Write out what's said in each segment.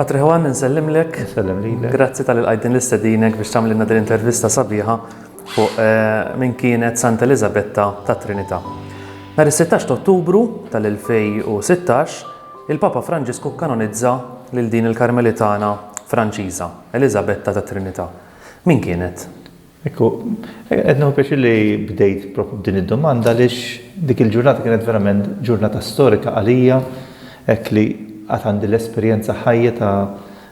Patri Juan, nsellimlek. Nsellem li. Grazzi tal-qajdin l-istedinek biex tamlinna din intervista sabiħa fuq eh, minn kienet Santa Elizabetta ta' Trinità. Nar 16 Ottubru tal-2016 Il-Papa Franġisku kkanonizza lil din il-Karmelitana Franċiża, Eliżabetta tat-Trinità. Min kienet? Ekku, qed nieħu pjaċir li bdejt propju b'din id-domanda għaliex dik il-ġurnata kienet verament ġurnata storika għalija hekk li għad għandi l-esperjenza ħajja ta'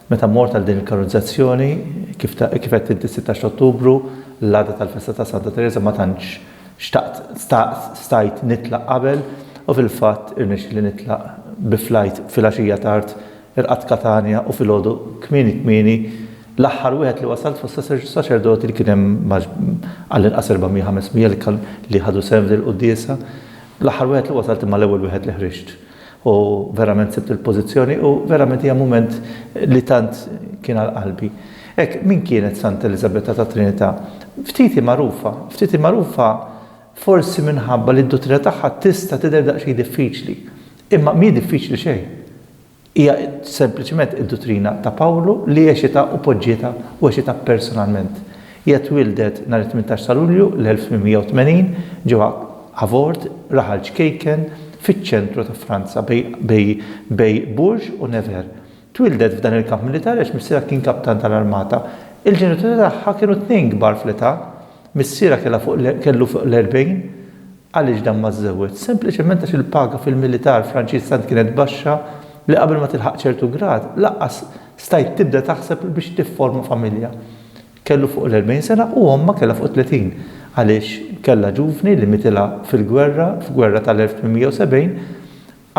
meta mort għal din il-kanonizzazzjoni, kif għedt inti s-sittax t'Ottubru, l-għada tal-festa ta' Santa Tereża ma tantx Xtaqt, staqt, stajt nitlaq qabel u fil-fatt irnexxieli nitlaq bi flajt filgħaxija tard, irqadt Katanja u filgħodu kmieni kmieni l-aħħar wieħed li wasalt fost saċerdoti li kien hemm għall-inqas 400-500 li ħadu sehem f'dil-quddiesa, l-aħħar wieħed li wasalt imma l-ewwel wieħed li ħriġt. U verament sibt il-pożizzjoni u verament hija mument li tant kien għal qalbi. Hekk, min kienet Santa Eliżabetta tat-Trinità? Ftit hi magħrufa. Ftit hi magħrufa forsi minħabba li d-duttrina tagħha tista' tidher daqsxejn diffiċli. Imma mhi diffiċli xejn. Hija sempliċement id-duttrina ta' Pawlu li għexitha u poġġietha u għexitha personalment. Hija twieldet nhar it-tmintax ta' Lulju l-1880 ġewwa Havord, raħal ċkejken fiċ-ċentru ta' Franza bej Bourges u Nevers. Twieldet f'dan il-kamp militari għax missierha kien kaptan tal-armata. Il-ġenituri tagħha kienu tnejn kbar fl-età. Missierha kellu fuq l-erbgħin Għaliex dan ma żżewweġx? Sempliċement għax il-paga fil-militar Franċiż tant kienet baxxa li qabel ma tilħaq ċertu grad, lanqas stajt tibda taħseb biex tifforma familja. Kellu fuq l-erbgħin sena u ommha kellha fuq it-tletin, għaliex kellha ġuvni li mitilha fil-gwerra, f'gwerra tal-1870,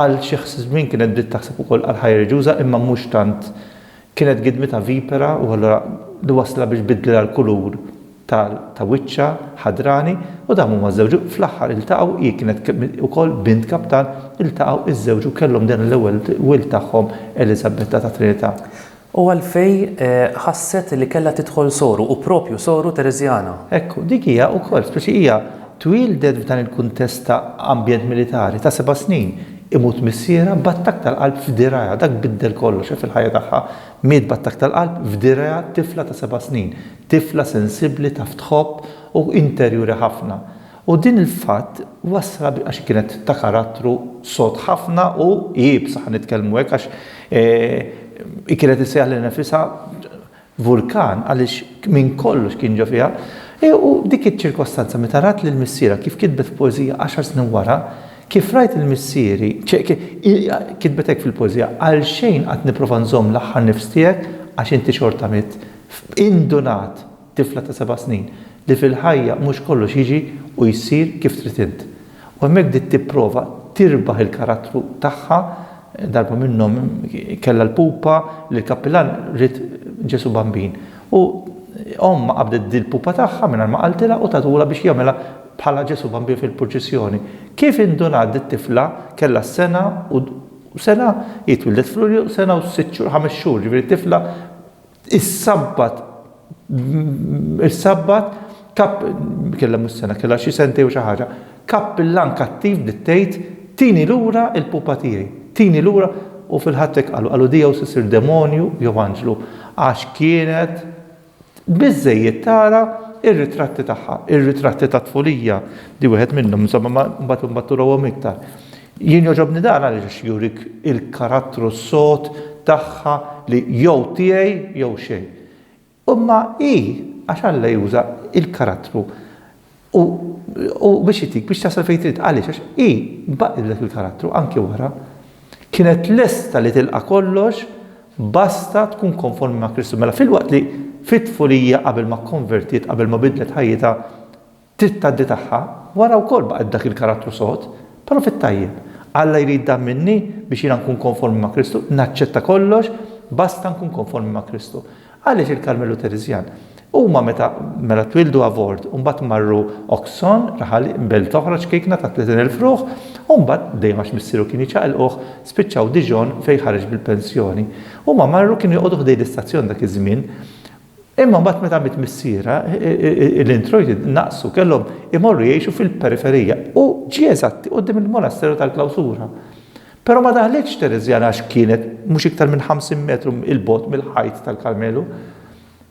Għal xi żmien kienet bdiet taħseb ukoll għal ħajja reliġjuża imma mhux tant. Kienet gidmitha vipera u allura li wasslha biex biddlilha l-kulur ta' wiċċha, ħadrani, u dawn huma żżewġu. Fl-aħħar iltaqgħu, hi kienet ukoll bint kaptan, iltaqgħu, iżżewġu, kellhom din l-ewwel wild tagħhom Eliżabetta tat-Trinità. U għalfej ħasset li kellha tidħol soru, u proprju soru Tereżjana. Ekku, dik hija wkoll, speċi hija twieldet f'dan il-kuntest ta' ambjent militari, ta' seba' snin, imut missierha b'attakk tal-qalb f'dirgħajha, dak biddel kollox, hekk fil-ħajja tagħha, miet b'attakk tal-qalb f'dirgħajha tifla ta' seba' snin, tifla sensibbli, taf tħobb, u interjuri ħafna. U din il-fatt wasslha biex għax hi kienet ta' karattru sod ħafna u iebsa, ħa nitkellmu hekk għax hi kienet issejjaħ lilha nifisha vulkan għaliex minn kollox kien ġo fiha. U dik iċ-ċirkostanza meta rat lil missierha kif kitbet poeżija għaxar snin wara, Kif rajt lil missieri, kitbet hekk fil-poeżija, għalxejn qatt nipprova nżomm l-aħħar nifs tiegħek għax inti xorta mitt. Indunat! tifla ta' seba' snin, li fil-ħajja mhux kollox jiġi u jsir kif trid int. U hemmhekk bdiet tipprova tirbaħ il-karattru tagħha, darba minnhom kellha l-pupa li l-kappilan ried Ġesù Bambin. U ommha qabdet dil-pupa tagħha mingħajr ma qaltilha u tatulha biex jagħmilha bħala Ġesù Bambin fil-purċissjoni. Kif indunat dit-tifla kellha sena u sena, hi twildet f'Lulju, sena u sitt xhur, ħames xhur, jiġifieri tifla Is-Sabbat, is-Sabbat, kap, kellha mhux sena, kellha xi sentej u xi ħaġa, kappillan kattiv bdiet tgħid, Tini lura l-pupa tiegħi, tini lura, u fil-Ħadd hekk qalu, qalu di jew se ssir demonju jew anġlu, għax kienet biżżejjed tara r-ritratti tagħha, ir-ritratti tat-tfulija, di wieħed minnhom, insomma, ma mbagħad imbagħad turawhom iktar. Jien jogħġobni dan għaliex jurik il-karattru s-sod tagħha li jew tiegħi jew xejn. Imma hi għax Alla juża l-karattru u u biex itik biex tasal fejn trid. Għaliex? Għax hi baqgħet b'dak il-karattru anki wara. Kienet lesta li tilqa' kollox basta tkun konformi ma' Kristu. Mela filwaqt li fit-tfulija qabel ma kkonvertiet, qabel ma bidlet ħajjitha, Trid tgħaddi tagħha, wara wkoll baqgħet b'dak il-karattru sod, però fit-tajjeb. Alla jrid dan minni biex jiena nkun konformi ma' Kristu, naċċetta kollox basta nkun konformi ma' Kristu. Għaliex il-Karmelu Tereżjan? Huma meta, mela twieldu avort u mbagħad marru Oxon, raħal belt oħra ċkejkna ta' 30 elf ruħ, u mbagħad, dejjem għax missieru kien jiċaqilquh, spiċċaw Dijon fejn ħareġ bil-pensjoni. Huma marru, kienu joqogħdu ħdejn l-istazzjon dak iż-żmien, Imma mbagħad meta miet missierha, l-introjti naqsu, kellhom imorru jgħixu fil-periferija u ġie eżatti quddiem il-monasteru tal-Klawsura. Però ma daħlitx Tereżjana għax kienet mhux iktar minn 50 metru 'l bogħod mill-ħajt tal-Karmelu.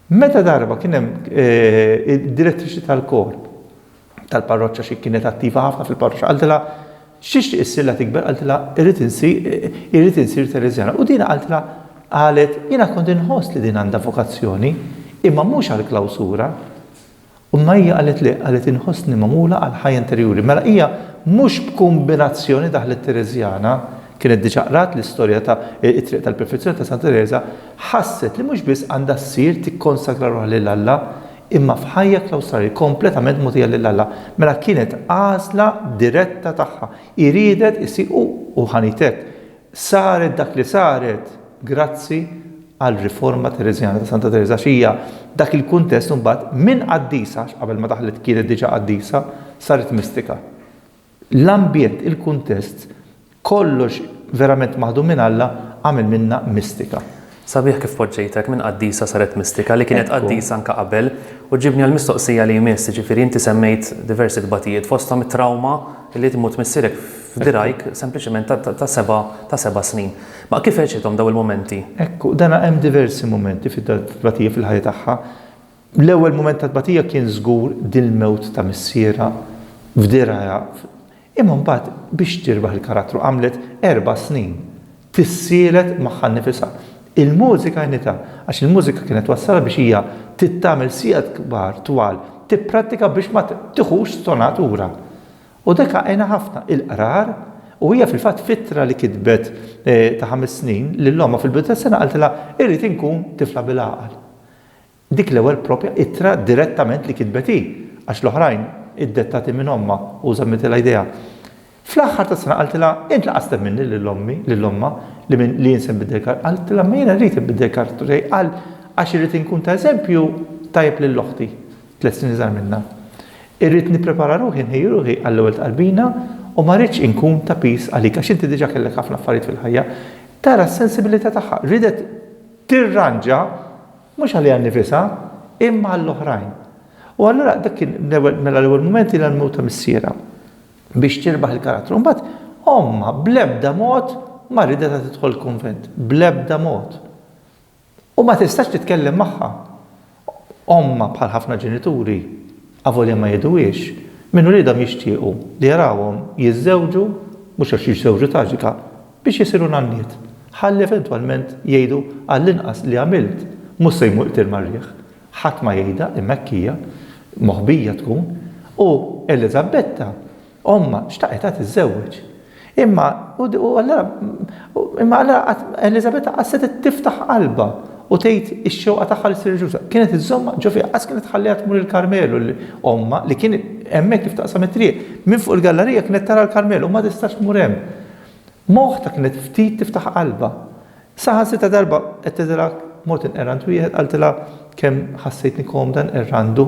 Meta darba kien hemm id-direttriċi tal-korp, tal-parroċċa xi kienet attiva ħafna fil-parroċċa qaltilha x'tixtieq issirla tikber qaltilha irrid irrid insir Tereżjana. U din qaltilha qalet jiena kont inħoss li din għandha vokazzjoni imma mhux għall-klawsura. U Maija qalet le, qalet inħossni magħmula għal ħajja interjuri. Mela hija mhux b'kumbinazzjoni daħlet Tereżjana, kienet diġà qrat l-istorja ta' it-triq tal-perfezzjoni ta' Santa Tereża, ħasset li mhux biss għandha ssir tikkonsagra ruħha lil Alla, Imma f'ħajja klawstrali kompletament mogħtija lil Alla, mela kienet għażla diretta tagħha. Hi riedet issir u, u ħanit hekk. Saret dak li saret grazzi għar-riforma Tereżjana ta' Santa Tereża għax hija dak il-kuntest imbagħad minn qaddisa, għax qabel ma daħlet kienet diġà qaddisa, saret mistika. L-ambjent, il-kuntest, kollox verament maħdum minn Alla għamel minnha mistika. Sabiħ kif poġġejtha hekk minn qaddisa saret mistika li kienet qaddisa anke qabel. U ġġibni għall-mistoqsija li jmiss, jiġifieri inti semmejt diversi tbatijiet fosthom it-trawma li tmut missierek f'dirgħajk sempliċement ta' ta' ta' seba' ta' seba' snin. Ma kif għexithom dawn il-mumenti? Ekku, dana hemm diversi mumenti fit-tbatija fil-ħajja tagħha. L-ewwel mument ta' tbatija kien żgur dil-mewt ta' missierha f'dirgħa imma mbagħad biex tirbaħ il-karattru għamlet erba' snin tissielet magħha nnifisha. Il-mużika għenitha għax il-mużika kienet twassalha biex hija trid tagħmel sigħat kbar twal tipprattika biex ma tiħux stonatura u dak għenha ħafna. Il-qrar u hija fil-fatt f'ittra li kitbet ta' ħames snin lil ommha fil-bidu tas-sena qaltilha irrid inkun tifla bil-għaqal. Dik l-ewwel proprja ittra direttament li kitbet hi, għax l-oħrajn, iddettati minn ommha u żammitilha jdejha. Fl-aħħar tas-sena qaltilha, Int laqas tlab minni lil ommi, lil ommha, li minn, li jien se nbiddel kar-, qaltilha, imma jiena rrid inbiddel karattru tiegħi għal, għax irrid inkun ta' eżempju tajjeb lil oħti, tliet snin iżgħar minnha. Irrid nipprepara ruħi, nħejji ruħi għall-ewwel tqarbina u ma rridx inkun ta' piż għalik, għax inti diġà kellek ħafna affarijiet fil-ħajja. Tara s-sensibilità tagħha, riedet, tirranġa mhux għaliha nnifisha, imma għall-oħrajn. U allura dak kien l-ewwel mela l-ewwel mument hi l-mewt ta' missierha biex tirbaħ il-karattru. Imbagħad ommha bl-ebda mod ma ridetha tidħol il-kunvent, bl-ebda mod. U ma tistax titkellem magħha. Ommha bħal ħafna ġenituri, avolja ma jgħiduhiex, minn uliedhom jixtiequ li jarawhom jiżżewġu, mhux għax jiżżewġu traġika, biex isiru nanniet, ħalli eventwalment jgħidu għallinqas li għamilt, mhux se jmur qtiel mar-riħ. Ħadd ma jgħidha imma hekk hija, moħbija tkun, u Eliżabetta Ommha xtaqitha tiżżewweġ. Imma u allura imma allura qatt Eliżabetta qatt setgħet tiftaħ qalbha u tgħid ix-xewqa tagħha li ssir riġuża. Kienet iżżommha ġo fiha, qatt kienet tħalliha tmur il-Karmelu li ommha li kien hemmhekk kif taqsam it-triq, minn fuq il-gallarija kienet tara l-Karmelu u ma tistax tmur hemm. Moħta kienet ftit tiftaħ qalbha. Saħansitra darba qed tgħidilha mod inqerrant wieħed qaltilha kemm ħassejtni komda nqerrandu.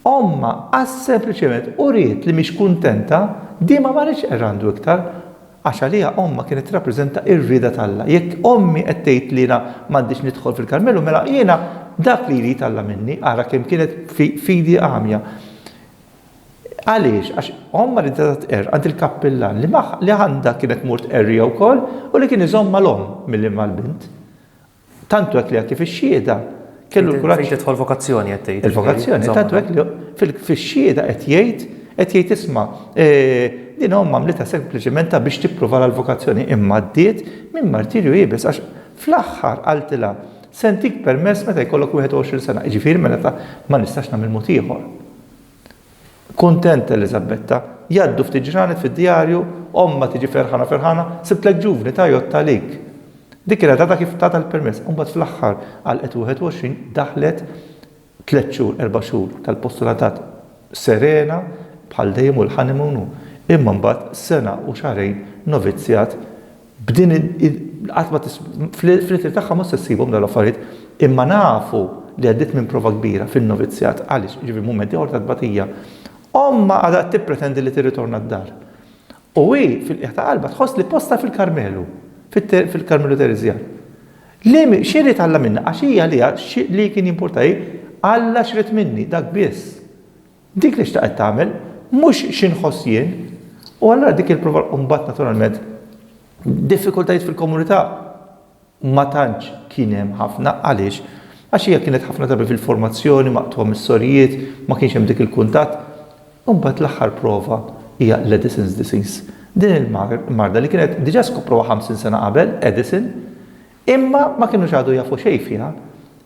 Ommha għax sempliċement uriet li mhix kuntenta, din ma marritx errandu iktar, għax għaliha ommha kienet tirrappreżenta r-rieda t'Alla. Jekk ommi qed tgħid li jiena m'għandix nidħol fil-Karmelu, mela jiena dak li jrid Alla minni, ara kemm kienet fidi għamja. Għaliex? Għax ommha riedha tqerr għand il-kappillan li għandha kienet tmur tqerriha wkoll u li kien iżommha l-omm milli ma l-bint. Tant hekk li anke fix-Xhieda kellu l-kuraġġ. Fejn tidħol vokazzjoni qed tgħid. Il-vokazzjoni tant hekk li fix-Xhieda qed jgħid qed jgħid isma' din omm għamlitha sempliċement ta' biex tipprova l-vokazzjoni imma għaddiet minn martirju iebes għax fl-aħħar qaltilha se ntik permess meta jkollok 21 sena, jiġifieri mela ta' ma nistax nagħmel mod ieħor. Kuntenta Eliżabetta. Jgħaddu ftit ġranet fid-djarju, ommha tiġi ferħana ferħana, sibtlek ġuvni tajjott għalik. Dik kienet għadha kif tatha l-permess, imbagħad fl-aħħar għalqet 21 daħlet tliet xhur, erba' xhur tal-postulatat serena bħal dejjem u l-honeymoon u. Imma mbagħad sena u xahrejn novizzjat, B'din qatt ma fl-itri tagħha mhux se ssibhom dawn l-affarijiet, imma nafu li għaddiet minn prova kbira fin-novizzjat, għaliex, jiġifieri mument ieħor ta' tbatija. Ommha għadha qed tippretendi li tirritorna d-dar. U hi, fil-qiegħ ta' qalbha, tħoss li postha fil-Karmelu, fil-Karmelu Tereżjan. Li xi jrid Alla minnha, għax hi għaliha li kien jimpurta hi, Alla x'ried minni, dak biss. Dik li xtaqet tagħmel, mhux xi nħoss jien. U allura dik il-prova u mbagħad naturalment diffikultajiet fil-komunità ma tantx kien hemm ħafna għaliex għax hija kienet ħafna drabi fil-formazzjoni maqtugħa mis-sorijiet, ma kienx hemm dik il-kuntatt. U mbagħad l-aħħar prova hija l-Addison's disease. Din il-marda li kienet diġà skoproha 50 sena qabel, Addison, Imma ma kinux għadu jafu xejn fiha.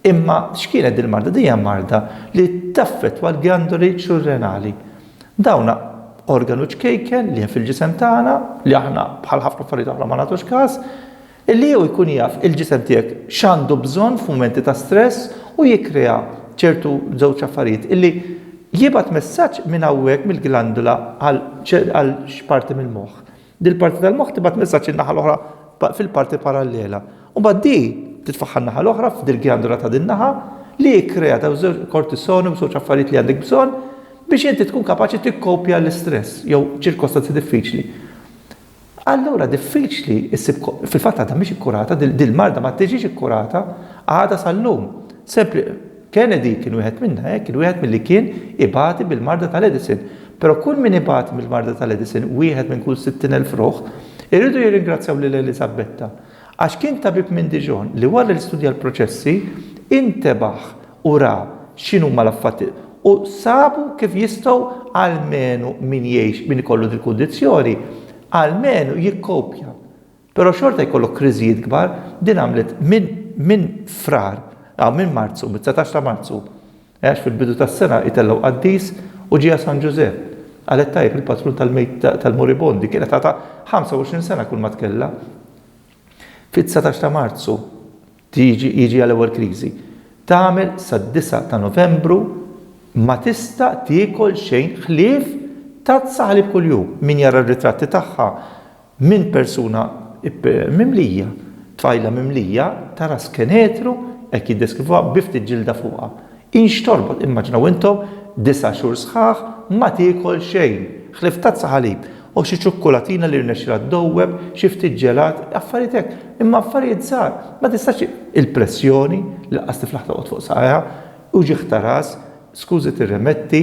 Imma x'kienet din il-marda? Din hija marda li taffettwa l-gjandoli surrenali. Dawn organu ċkejken li hemm fil-ġisem tagħna, li aħna bħal ħafna affarijiet oħra ma nagħtux każ, illi jew ikun jaf il-ġisem tiegħek x'għandu bżonn f'mumenti ta' stress u jikkrea ċertu żewġ affarijiet illi jibgħat messaġġ minn hawnhekk mill-glandola għal xi parti mill-moħħ. Din il-parti tal-moħħ tibgħat messaġġ in-naħa l-oħra fil-parti parallela. U mbagħad di titfaħħar naħa l-oħra f'dil-gjandola ta' din naħa li jikkrea daw żewġ kortisoni u żewġ affarijiet li għandek bżonn biex inti tkun kapaċi tikkopja l-istress jew ċirkostanzi diffiċli. Allura diffiċli issib fil-fatt għadha mhix ikkurata, dil-marda ma tiġix ikkurata għadha sal-lum. Sempli Kennedy kien wieħed minnha, eh, kien wieħed milli kien ibati bil-marda tal-Edison. Però kull min ibati mill-marda tal-Edison, wieħed minn kull 60,000 ruħ, iridu jirringrazzjaw lil Eliżabetta. Għax kien tabib minn Dijon li wara li studja l-proċessi, intebaħ u ra x'inhuma l-affatti u sabu kif jistgħu almenu min jgħix, min ikollu dil-kundizzjoni, almenu jikkopja. Però xorta jkollok kriżijiet kbar, din għamlet minn minn Frar, ah minn Marzu, mit-dsatax ta' Marzu, eh għax fil-bidu tas-sena itellgħu qaddis u ġieha San Ġużepp. Qalet tajjeb il-patrun tal-moribondi, kienet għadha 25 sena kulma tkellha. Fid-dsatax ta' Marzu tiġi jiġiha l-ewwel kriżi. Tagħmel sad-disgħa ta' Novembru ma tista' tiekol xejn ħlief tazza ħalib kuljum. Min jara r-ritratti tagħha Minn persuna mimlija, tfajla mimlija ta' ras kenetru, hekk jiddeskrivuha, bi ftit ġilda fuqha. Hi x'torbot, immaġinaw intom, disa' xhur sħaħ ma tiekol xejn, ħlief tazza ħalib, u xi ċukkulatina li rnexxielha ddowweb, xi ftit ġelat, affarijiet hekk, imma affarijiet żgħar, ma tistax, il-pressjoni, li laqas tiflaħ toqgħod fuq saqajha, uġigħ ta' ras, Skużi tirrimetti,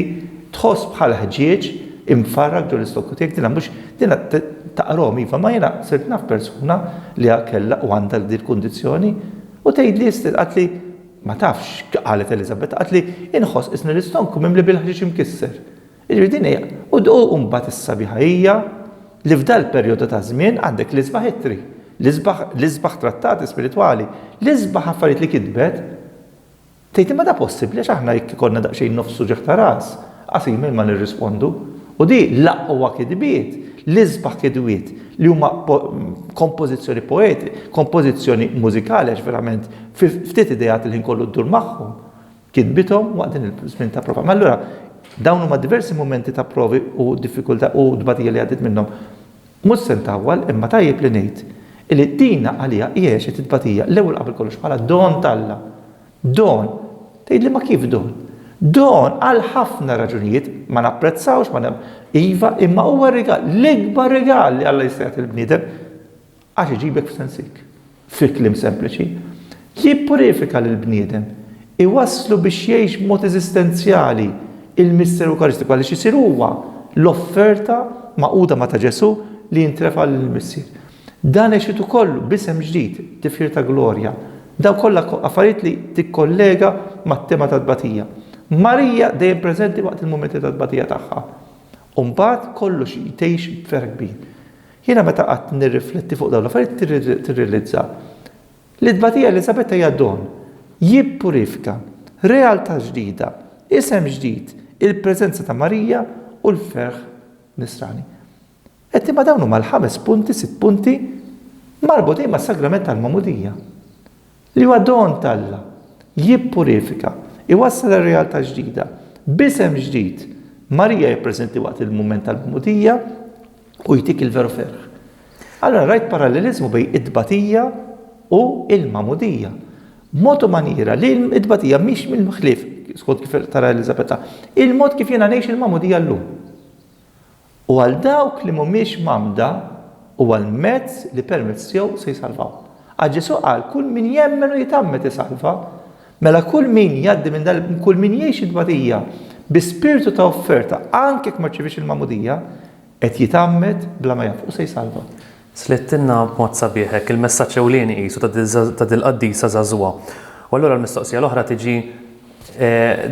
tħoss bħal ħġieġ imfarrak ġo l-istokku tiegħek, dinha mhux, dinha taqrom iva, ma jiena sirt naf persuna li ha kellha u għandha din il-kundizzjoni u tgħidli istil, qaltli, ma tafx x'qalet Eliżabetta, qaltli, inħoss qisni l-istonku mimli bil-ħġieġ imkisser. Jiġifieri din hi, u mbagħad is-sabiħa hija li f'dal-perjodu ta' żmien għandek l-isbaħ ittri, l-isbaħ, l-isbaħ trattati spiritwali, l-isbaħ affarijiet li kitbet, Tgħid imma da possibbli għax aħna jekk ikollna daqsxejn nofs uġigħ ta' ras, qasim minn ma nirrispondu. U di l-aqwa kitbiet, l-isbaħ kitbiet li huma kompożizzjoni poeti, kompożizzjoni mużikali għax verament fi ftit ideat il-ħin kollu ddur magħhom, kitbithom waqt din il-żmien ta' prova. Ma allura dawn huma diversi mumenti ta' provi u diffikultà u tbatija li għaddiet minnhom. Mhux se ntawwal imma tajjeb li ngħid illi dina għaliha hi għexet it-tbatija l-ewwel qabel kollox bħala don t'Alla. Don! Tgħidli ma kif don? Don għal ħafna raġunijiet, ma napprezzawx, ma nemmn. Iva, imma huwa rigal, l-ikbar rigal li Alla jista' jagħti lill-bniedem għax iġibek f'sensik. Fi kliem sempliċi, li jippurifika lill-bniedem, iwasslu biex jgħix b'mod eżistenzjali l-Misteru Ewkaristiku għaliex isir huwa l-offerta magħquda ma' ta' Ġesù li jintrefa' lill-Missier. Dan għexiet ukoll b'isem ġdid, tifħir ta' glorja. Dawn kollha affarijiet li tikkollega mat-tema tat-tbatija. Marija dejjem preżenti waqt il-mumenti tat-tbatija tagħha. U mbagħad kollox jtgħix b'ferħ kbir. Jiena meta qgħadt nirrifletti fuq dawn l-affarijiet tirrilizza li t-tbatija Eliżabetta hija don, jippurifika, realtà ġdida, isem ġdid, il-preżenza ta' Marija u l-ferħ Nisrani. Qed imma dawn huma l-ħames punti, sitt punti marbutin mas-sagrament tal-magħmudija. Li huwa don t'Alla, jippurifika, iwassal għal realtà ġdida, b'isem ġdid, Marija hija preżenti waqt il-mument tal-Magħmudija u jtik il-veru ferħ. Allura rajt paralleliżmu bejn it-tbatija u l-Magħmudija. B'mod u manjiera li t-tbatija mhix mill-ħlief, skont kif tara Eliżabetta, il-mod kif jiena ngħix il-Magħmudija llum. u għal dawk li mhumiex mgħammda huwa l-mezz li permezz tiegħu se jsalvahom. Għax Ġesù qal, Kull min jemmen u jitgħammed isalva. Mela kull min jgħaddi minn dan kull min jgħix it-tbatija bi spirtu ta' offerta anke jekk ma rċiviex il-magħmudija, qed jitgħammed bla ma jaf u se jsalva. Slittilna b'mod sabiħ hekk il-messaġġ ewlieni qisu ta' dil-qaddisa żagħżugħa. U allura l-mistoqsija l-oħra tiġi,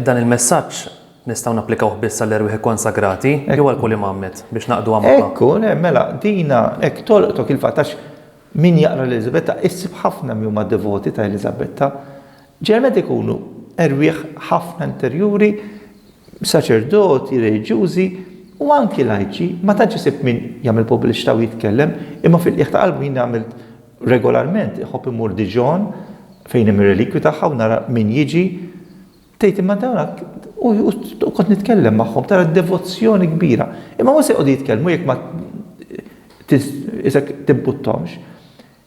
dan il-messaġġ Nistgħu napplikawh biss għall-erwieħ ikkonsagrati, jew għal kull imam met, biex naqduha magħha? Hekk hu, le, mela, dina, hekk tolqtok il-fatt, għax min jaqra l-Eliżabetta, issib ħafna min huma devoti ta' Eliżabetta, ġeneralment ikunu erwieħ ħafna interjuri, saċerdoti, reliġjużi, u anki lajċi, ma tantx isib min jagħmel pubbliċità u jitkellem, imma fil-qiegħ ta' qalbu jien għamilt regolarment, iħobb immur Dijon, fejn hemm ir-relikwji tagħha u nara min jiġi, Tgħid, imma dawn u toqgħod nitkellem magħhom, tara d-devozzjoni kbira. Imma mhux se jqogħdu jitkellmu jekk ma isek tibbuttahomx.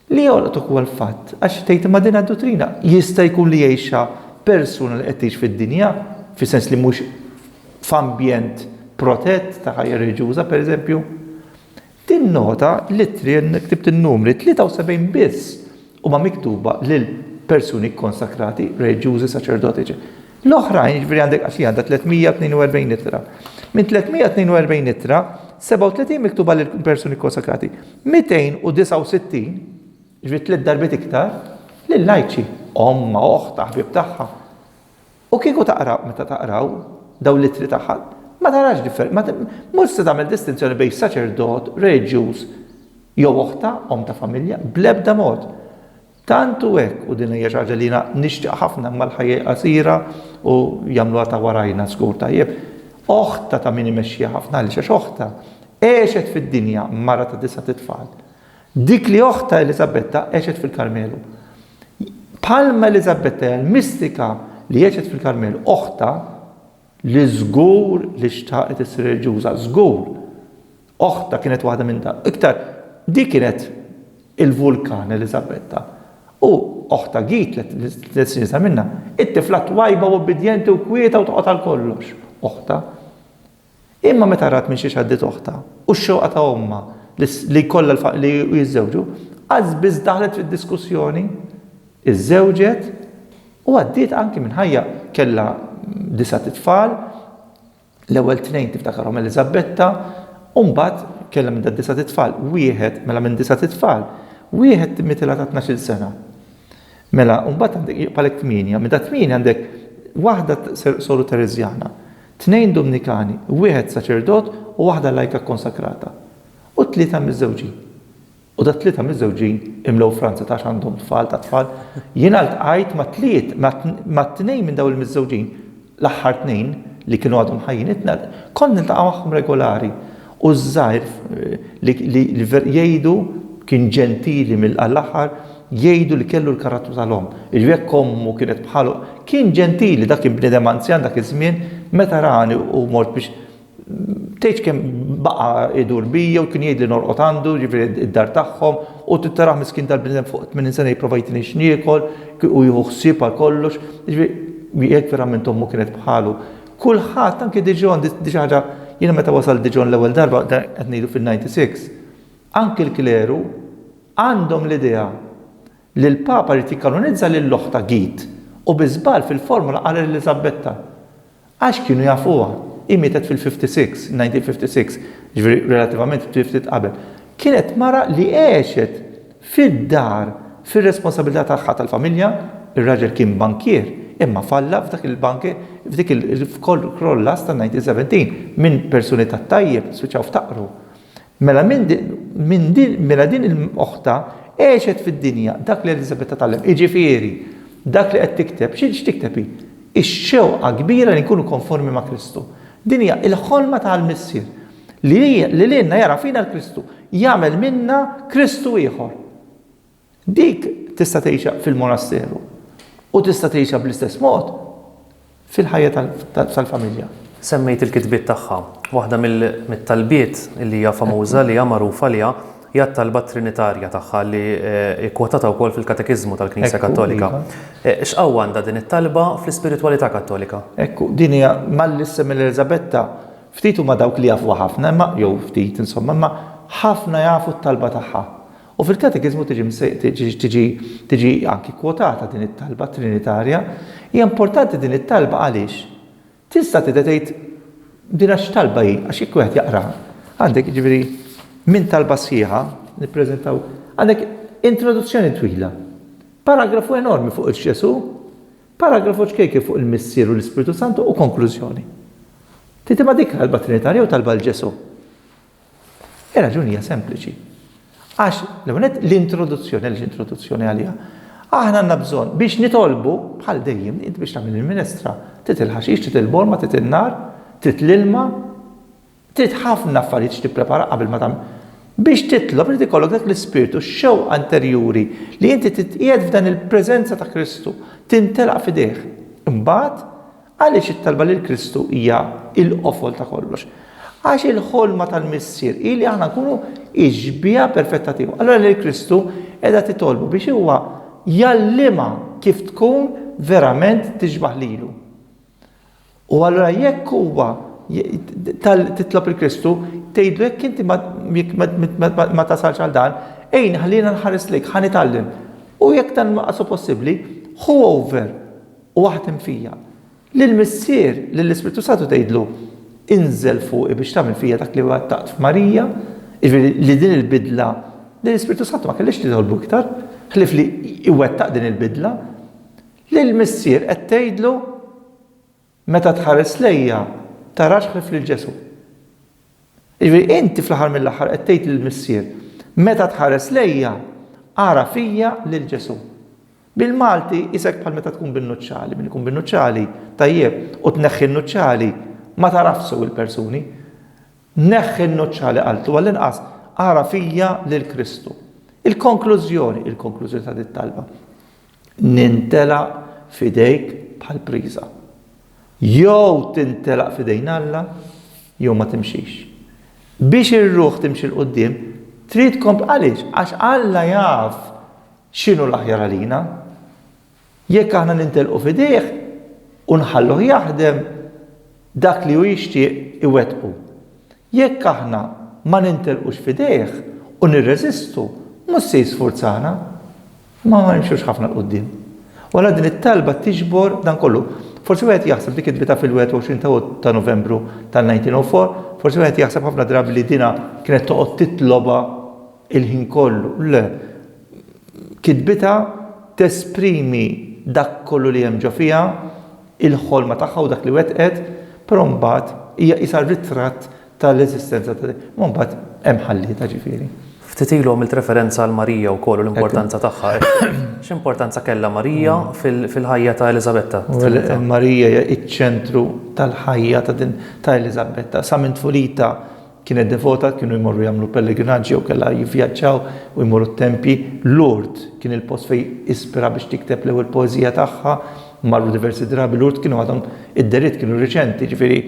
Li jolqtok huwa l-fatt, għax tgħid imma din d-duttrina jista' jkun li jgħixha persuna li qed tgħix fid-dinja, fis-sens li mhux f'ambjent protett ta' ħajja reliġjuża, pereżempju. Tinnota li t-trijen, ktibt in-numri, 73 biss huma miktuba lil persuni kkonsakrati, reliġjużi, saċerdoti, eċ. L-oħrajn, jiġifieri għandek għax hija għandha 342 ittra. Minn 342 ittra, 37 miktuba lil persuni kkonsakrati, 269, jiġifieri tliet darbiet iktar, lil lajċi, ommha, oħtha, ħbieb tagħha. U kieku taqraw, meta taqraw, dawn l-ittri tagħha, ma tarax differ, ma, mhux se tagħmel distinzjoni bejn saċerdot, reliġjuż, jew oħtha, omm ta' familja, bl-ebda mod. Tant hu hekk, u din hija xi ħaġa li jiena nixtieq ħafna imma l-ħajja hi qasira u jagħmluha ta' warajna żgur tajjeb, oħtha ta' min imexxiha ħafna, għaliex għax oħtha għexet fid-dinja, mara ta' disgħat itfal. Dik li oħtha Eliżabetta għexet fil-Karmelu. Bħalma Eliżabetta hija l-mistika li għexet fil-Karmel, oħtha li żgur li xtaqet issir reliġjuża, żgur, oħtha kienet waħda minn dawk. Iktar, dik kienet il-vulkan Eliżabetta. U oħtha Git, tliet snin sa minnha, it-tifla twajba u obbidjenti u kwieta u toqgħod għal kollox. Oħtha. Imma meta rat minn xiex għaddiet oħtha, u x-xewqa ta' ommha li jkollha l-fatt li jiżżewġu, qas biss daħlet fid-diskussjoni, iżżewġet u għaddiet anki minn ħajja, kellha disgħat itfal, l-ewwel tnejn tiftakarhom Eliżabetta, u mbagħad kellha minn dad-disgħat itfal, wieħed, mela minn disgħat itfal, wieħed timmitilha ta' tnax-il sena. Mela, u mbagħad għandek, jibqgħalek tmienja, minn dat-tmienja għandek waħda soru Tereżjana. Tnejn Dumnikani, wieħed saċerdot u waħda lajka kkonsakrata, u tlieta miżżewġin. U dat-tlieta miżżewġin imlew Franza ta' għax għandhom tfal ta' tfal. Jiena ltqajt ma' tliet, ma' tnejn minn dawn il-miżżewġin, l-aħħar tnejn li kienu għadhom ħajjin, kont niltaqa' magħhom regolari. U ż-żgħir li jgħidu kien ġentili mill-aħħar, jgħidu li kellu l-karattru tal-omm. Jiġifieri jekk ommu kienet bħalu, kien ġentili, dak kien bniedem anzjan dak iż-żmien, meta rani u mort biex tgħidx kemm baqa' idur bija u kien jgħidli norqod għandu, jiġifieri d-dar tagħhom, u tittarah miskin dal-bniedem fuq 80 sena jipprova jtini x'niekol u jieħu ħsieb għal kollox. Jiġifieri jekk verament ommu kienet bħalu, Kulħadd anke Dijon, di xi ħaġa jiena meta wasalt Dijon l-ewwel darba qed ngħidu fin-96, anke l-kleru għandhom l-idea li l-Papa jrid jikkanonizza lil oħta Git u bi żball fil-formula qal Eliżabetta. Għax kienu jafuha. Hi mietet fil-56, 1956, jiġifieri relattivament ftit qabel. Kienet mara li għexet Fid-dar, fir-responsabilità tagħha tal-familja, ir-raġel kien bankier imma falla f'dak il-bank f'dik il-f'kollass ta' 1917 minn persuni tat-tajjeb spiċċaw ftaqru. Mela minn minn din mela din il-oħta għexet fid-dinja dak li Eliżabetta tgħallem, jiġifieri, dak li qed tikteb, xi x'tikteb hi? Ix-xewqa kbira li nkunu konformi ma' Kristu. Din hija l-ħolma tal-Missier. Li lilna jara fina l-Kristu, jagħmel minna Kristu ieħor. Dik tista' tgħixha fil-monasteru u tista' tgħixha bl-istess mod fil-ħajja tal-familja. Semmejt il-kitbiet tagħha. Waħda mit-talbiet li hija famuża, li hija magħruf għaliha, hija t-talba trinitarja tagħha li hi kwotata wkoll fil-Katekiżmu tal-Knisja Kattolika. X'qawwa għandha din it-talba fl-ispiritwalità Kattolika? Ekku, din hija malli s-Sem Eliżabetta Ftit huma dawk li jafuha ħafna imma, jew ftit, insomma, imma ħafna jafu t-talba tagħha. U fil-Katekiżmu tiġi tiġi tiġi anki kkwotata din it-talba trinitarja. Hija importanti din it-talba għaliex? Tista' tidher tgħid din għax x'talba hi? Għax jekk wieħed jaqraha, għandek jiġifieri minn talba sħiħa, nippreżentaw, għandek introduzzjoni twila, paragrafu enormi fuq il-Ġesù, Paragrafu ċkejken fuq il-Missier u l-Ispirtu Santu u konklużjoni. Titi ma dik talba trinitarja jew talba 'l Ġesù? Ir-raġuni hija sempliċi. Għax, l-ewwel nett, l-introduzzjoni, għaliex introduzzjoni għaliha? Aħna għandna bżonn, biex nitolbu, bħal dejjem, int biex tagħmel il-minestra, trid il-ħaxix, trid il-borma, trid in-nar, trid l-ilma, Trid ħafna affarijiet x'tipprepara qabel ma tagħmel. Biex titlob irid ikollok dak l-ispirtu, x-xewqa interjuri li inti titqiegħed f'dan il-preżenza ta' Kristu, tintelaq f'idejh. Imbagħad, għaliex it-talba lil Kristu hija l-qofol ta' kollox? Għax il-ħolma tal-Missier hi li aħna nkunu ix-xbieha perfetta tiegħu. Allura lil Kristu qiegħda titolbu biex huwa jgħallimha kif tkun verament tixbah lilu. U allura jekk huwa titlob il Kristu, tgħidlu jekk inti ma tasalx għal dan, ejn ħalliena nħares lejk, ħa nitgħallem. U jekk dan ma qasu possibbli, ħu over u aħdem fija. Lil Missier, lil Ispirtu Santu tgħidlu, inżel fuqi biex tagħmel fija dak li wettaqt f'Marija, jiġifieri li din il-bidla li l-Ispirtu Santu ma kellix titolbu iktar, ħlif li iwettaq din il-bidla. Lil missier qed tgħidlu, Meta tħares lejja, tarax ħlief lil Ġesù. Jiġifieri inti fl-aħħar mill-aħħar qed tgħid lil missier, Meta tħares lejja, ara fija lil Ġesù. Bil-Malti isek bħal meta tkun bin-nuċċali, min ikun bin-nuċċali, tajjeb, u tneħħi n-nuċċali, ma tarafsu il-persuni. Neħħi n-nuċċali qaltu għall-inqas ara fija lil Kristu. Il-konklużjoni, il-konklużjoni ta' dit-talba. Nintelaq f'idejk bħal priża. Jew tintelaq f'idejn Alla jew ma timxix. Biex ir-ruħ timxi 'l quddiem, trid tkompli. Għaliex? Għax Alla jaf x'inhu l-aħjar għalina. Jekk aħna nintelqu f'idejh u nħalluh jaħdem, dak li hu jixtieq iwettqu. Jekk aħna ma nintelqux f'idejh u nirreżistu, mhux se jisfurzana. Ma nimxux ħafna 'l quddiem. U allura din it-talba tiġbor dan kollu. Forsi wieħed jaħseb dik il-bitgħa fil-21 ta' ta' Novembru tal-1904, forsi wieħed jaħseb ħafna drabi li dinha kienet toqgħod titlobha il-ħin kollu. Le. Kitbitha tesprimi dak kollu li hemm ġo fiha, il-ħolma tagħha u dak li wettqet, però mbagħad hija qisha ritratt tal-eżistenza ta' din. Imma mbagħad hemm ħallietha ġifieri. Ftit ilu għamilt referenza għal Marija wkoll u l-importanza tagħha. X'importanza kellha Marija fil-ħajja ta' Eliżabetta? Marija hija ċ-ċentru tal-ħajja ta' din ta' Eliżabetta. Sa minn tfulitha kienet devota, kienu jmorru jagħmlu pellegrinaġġi jew kellha jivvjaġġaw u jmorru t-tempji. Lourdes kien il-post fejn ispira biex tikteb l-ewwel poeżija tagħha marru diversi drabi Lourdes kienu għadhom id-deriet kienu riċenti, ġifieri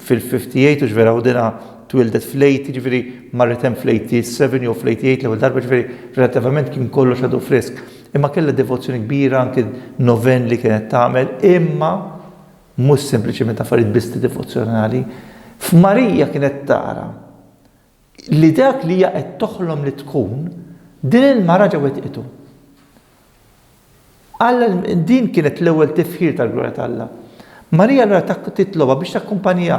fil-58 u ġvera u dina twildet fl-80, ġifieri marret hemm fl-87 jew fl-88 l-ewwel darba, ġifieri relattivament kien kollox għadu frisk. Imma kellha devozzjoni kbira anki noven li kienet tagħmel, imma mhux sempliċement affarijiet bisti devozzjonali. F'Marija kienet tara li dak li hija qed toħlom li tkun, din il-mara ġa wettqitu. Alla din kienet l-ewwel tifħir tal-glorja ta' Alla. Marija allura titlobha biex takkumpanjha.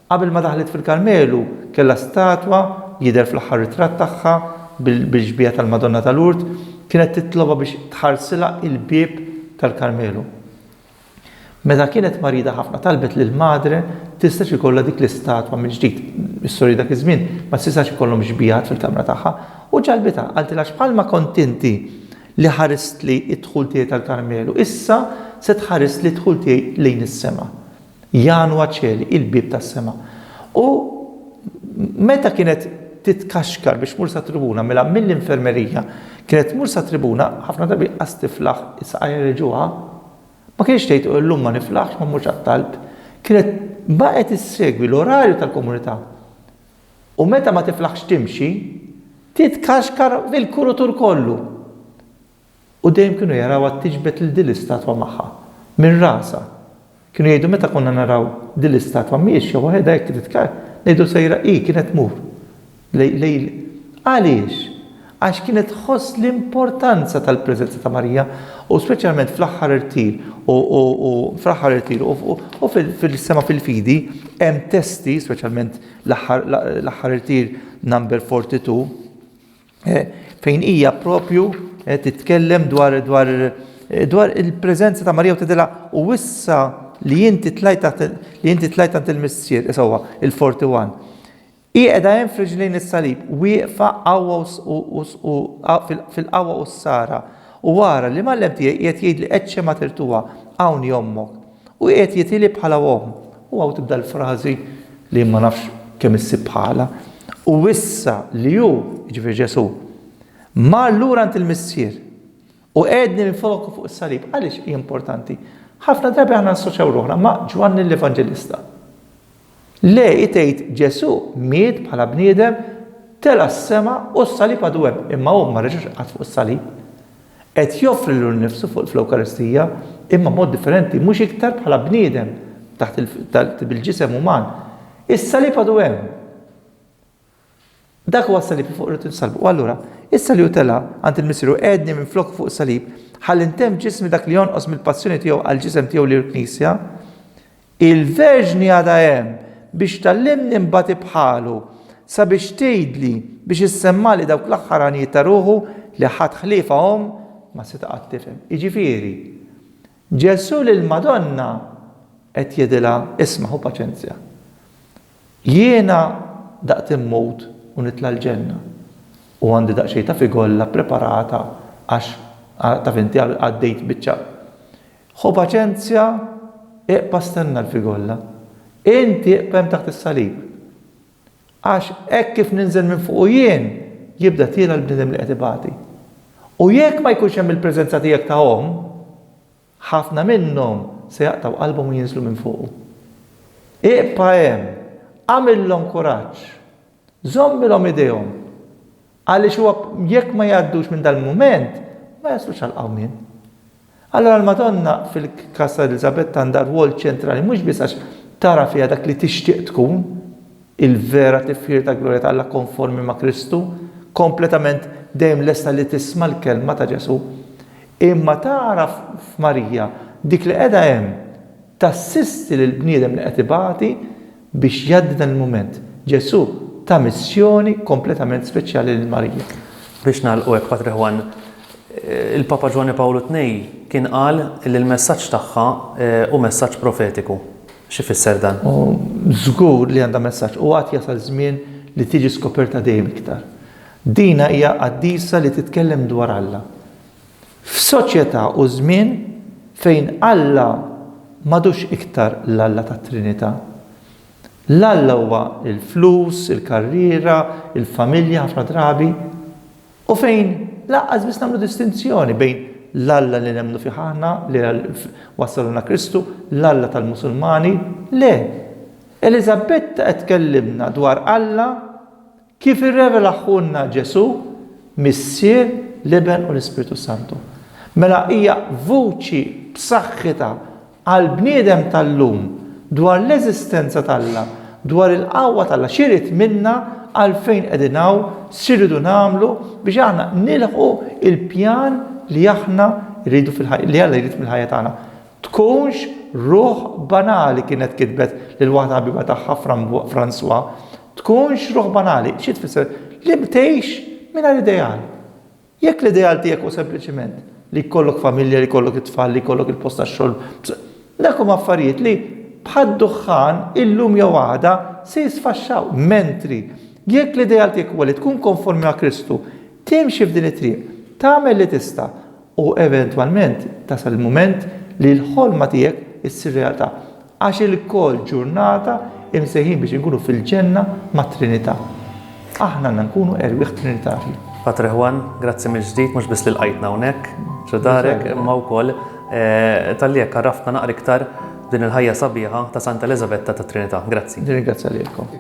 Qabel ma daħlet fil-Karmelu kellha statwa, jidher fl-aħħar ritratt tagħha bil-xbieha tal-Madonna tal-Lurd, kienet titlobha biex tħarsilha il-bieb tal-Karmelu. Meta kienet marida ħafna talbet lill-Madre tistax ikollha dik l-istatwa mill-ġdid. Is-sori dak iż-żmien ma setax ikollhom xbiehat fil-kamra tagħha u ġalbitha. Qaltilha, X'bħalma kont inti li ħaristli d-dħul tiegħi tal-Karmelu, issa se tħarisli d-dħul tiegħi lejn is-sema. Janwa Coeli, Il-Bieb tas-Sema. U meta kienet titkaxkar biex tmur sat-tribuna mela mill-infermerija kienet tmur sat-tribuna ħafna drabi qas tiflaħ is-saqajn reġgħuha. Ma kinitx tgħid u llum ma niflaħx, ma mmurx għat-talb. Kienet baqgħet issegwi l-orarju tal-komunità. U meta ma tiflaħx timxi, titkaxkar fil-kurutur kollu. U dejjem kienu jarawha tiġbed lil din l-istatwa magħha, minn rasha. Kienu jgħidu meta konna naraw din l-istatwa miexja waħedha hekk titkaxkar, ngħidu sejra hi, kienet tmur. Lejl. Għaliex? Għax kienet tħoss l-importanza tal-preżenza ta' Marija, u speċjalment fl-aħħar irtir, u, u, u, fl-aħħar irtir, u, u, u fil- fil-sema fil-fidi, hemm testi, speċjalment l-aħħar, l- l-aħħar irtir number 42, eh, fejn hija propju eh, titkellem dwar, dwar, eh, dwar il-preżenza ta' Marija u tidilha u issa li inti tlajt taħt- li inti tlajt għand il-missier, isewwa, il-41. Hi qiegħda hemm f'riġlejn is-Salib, wieqfa qawwa u fil-qawwa u s-sara, u ara, l-Imgħallem tiegħi qiegħed jgħidli Ecce mater tua, hawn hi ommok, u qiegħed jitili bħala omm. U hawn tibda l-frażi li ma nafx kemm issib bħalha, U issa li hu, jiġifieri Ġesù, mar lura għand il-Missier u qiegħedni minn flok fuq is-Salib. Għaliex hi importanti? Ħafna drabi aħna nassoċjaw ruħna ma' Ġwanni l-Evanġelista. Le, hi tgħid, Ġesù miet bħala bniedem, tela' s-sema u s-salib għadu hemm, imma hu ma reġax qatt fuq is-salib. Qed joffri lilu nnifsu fl-Ewkaristija, imma b'mod differenti, mhux iktar bħala bniedem taħt bil-ġisem uman. Is-salib għadu hemm. Dak wassal li fuq irridu nsalbu. U allura, issa li hu tela' għand il-Missier u qegħedni minfloku fuq is-salib, ħalli ntemm f'ġismi dak li jonqos mill-passjoni tiegħu għall-ġisem tiegħu li hu l-Knisja, il-Verġni għadha hemm biex tgħallimni nbati bħalu, sabiex tgħidli, biex issemmali dawk l-aħħar għanijiet ta' ruħu li ħadd ħliefha omm ma seta' qatt tifhem. Jiġifieri, Ġesù lill-Madonna qed jgħidilha, Isma' ħu paċenzja. Jiena daqt immut u nitla' l-ġenna u għandi daqsxejn ta' figolla ppreparata għax, taf inti, għaddejt biċċa. Ħu paċenzja, iqpa' stenna l-figolla. Inti iqpa' hemm taħt is-salib. Għax hekk kif ninżel minn fuqu jien, jibda tiela' l-bniedem li qed ibati. U jekk ma jkunx hemm il-preżenza tiegħek ta' Omm, ħafna minnhom se jaqtgħu qalbhom u jinżlu minn fuqu. Iqpa' hemm, agħmilhom kuraġġ, żommilhom idejhom, Għaliex huwa jekk ma jgħaddux minn dal-mument, ma jaslux għall-qawmien. Allura l-Madonna fil-każ ta' Eliżabetta għandha rwol ċentrali mhux biss għax tara fiha dak li tixtieq tkun, il-vera tifħir ta' glorja ta' Alla konformi ma' Kristu, kompletament dejjem lesta li tisma' l-kelma ta' Ġesù, imma tara f'Marija dik li qiegħda hemm tassisti lill-bniedem li qed ibati, Biex jgħaddi dan il-mument, Ġesù ta missjoni kompletament speċjali lil Marija. Biex nagħlqu hekk, Patri Juan, il-Papa Ġwanni Pawlu Tnej kien qal li l-messaġġ tagħha hu messaġġ profetiku. X'ifisser dan? U żgur li għandha messaġġ u għad jasal żmien li tiġi skoperta dejjem iktar. Dina hija qaddisa li titkellem dwar Alla. F'soċjetà u żmien fejn Alla m'għadux iktar l-Alla tat-Trinità, l-Alla huwa l-flus, il-karriera, il-familja ħafna drabi, u fejn lanqas biss nagħmlu distinzjoni bejn l-Alla li nemmnu fih aħna, li wassalna Kristu, l-Alla tal-Musulmani, le, Eliżabetta qed tkellimna dwar Alla, Kif irrevelahulna Ġesù, Missier, l-Iben u l-Ispirtu Santu. Mela hija vuċi b'saħħitha għall-bniedem tal-lum dwar l-eżistenza t'Alla, dwar il-qawwa t'Alla, x'irid minna, għalfejn qegħdin hawn, x'irridu nagħmlu biex aħna nilħqu l-pjan li aħna rridu fil-ħajja, li Alla jrid mill-ħajja tagħna. Tkunx ruħ banali kienet kitbet lil waħda ħabiba tagħha Francois Tkunx ruħ banali, xi tfisser? Li btgħix mingħajr ideal. Jekk l-ideal tiegħek hu sempliċiment li jkollok familja, li jkollok it-tfal, li jkollok il-post tax-xogħol, dak huma affarijiet li bħad-duħħan illum jew għada se jisfaxxaw. Mentri, jekk l-ideal tiegħek huwa li tkun konformi ma' Kristu, timxi f'din it-triq, tagħmel li tista', U eventwalment tasal il-mument li l-ħolma tiegħek issir realtà, għax ilkoll ġurnata imsejħin biex inkunu fil-ġenna mat-Trinità. Aħna għandna nkunu erwieħ trinitarji. Patre Juan, grazzi mill-ġdid mhux biss li lqajtna hawnhekk ġo darek imma wkoll talli hekk għarraftna naqra iktar din il-ħajja sabiħa ta' Santa Eliżabetta tat-Trinità. Grazzi. Nirringrazzja lilkom.